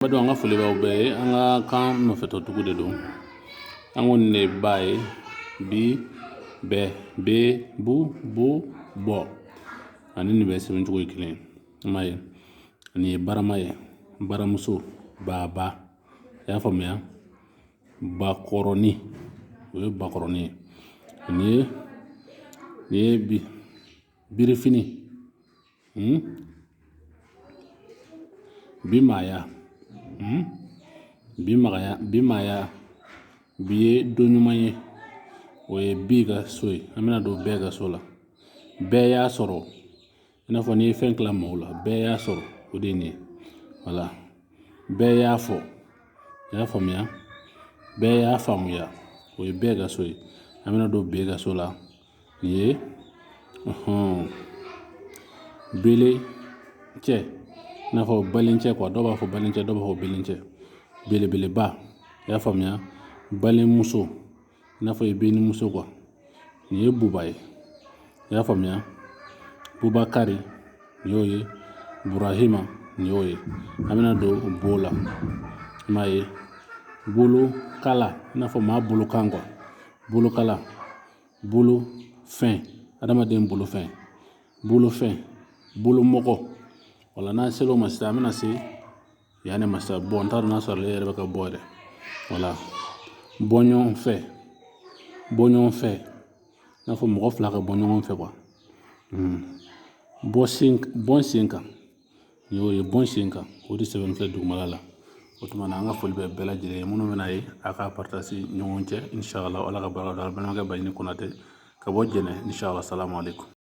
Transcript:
Ba an ka foli b'aw bɛɛ ye an ka kan nɔfɛtɔcogo de don an ko nin ba ye bi bɛɛ be bu bo bɔ ani nin bɛɛ sɛbɛncogo ye kelen ma ye ani ye barama ye baramuso baba i y'a faamuya bakɔrɔnin o ye bakɔrɔnin ye ani nin ye bi birifini hmm? bimaaya hmm? bimaaya bimaaya bi ye don ɲuman ye o ye bi ka so ye an bɛna don bɛɛ ka so la bɛɛ y'a sɔrɔ i n'a fɔ n'i ye fɛn tila maaw la bɛɛ y'a sɔrɔ o de ye nin ye wala bɛɛ y'a fɔ i y'a faamuya bɛɛ y'a faamuya o ye bɛɛ ka so ye an bɛna don be ka so la ye hɔn belencɛ i n'a fɔ balincɛ kuwa dɔw b'a fɔ balincɛ dɔw b'a fɔ bencɛ belebeleba i y'a faamuya balimamuso i n'a fɔ i benmuso kuwa nin ye buba ye i y'a faamuya bubakari nin y'o ye burahima nin y'o ye an bɛna don bo la i m'a ye bolokala i n'a fɔ maa bolokan kuwa bolokala bolo fɛn adamaden bolo fɛn bolo fɛn bolo mɔgɔ wala n'an sera o ma sisan an bɛna se nin ma sisan bɔ n t'a dɔn n'a sɔrɔ ale yɛrɛ bɛ ka bɔ yɛrɛ wala bɔ ɲɔgɔn fɛ bɔ ɲɔgɔn fɛ i n'a fɔ mɔgɔ fila ka bɔ ɲɔgɔn fɛ bɔ sen bɔ sen kan Nin y'o ye bon sen kan o de sɛbɛn bɛ kɛ dugumana la o tuma na an ka foli bɛ bɛɛ lajɛlen ye minnu bɛna ye a k'a partager ɲɔgɔn cɛ inshallah ala ka barika don a la balimakɛ baɲini konate ka bɔ jɛnɛ inshallah salamu alekum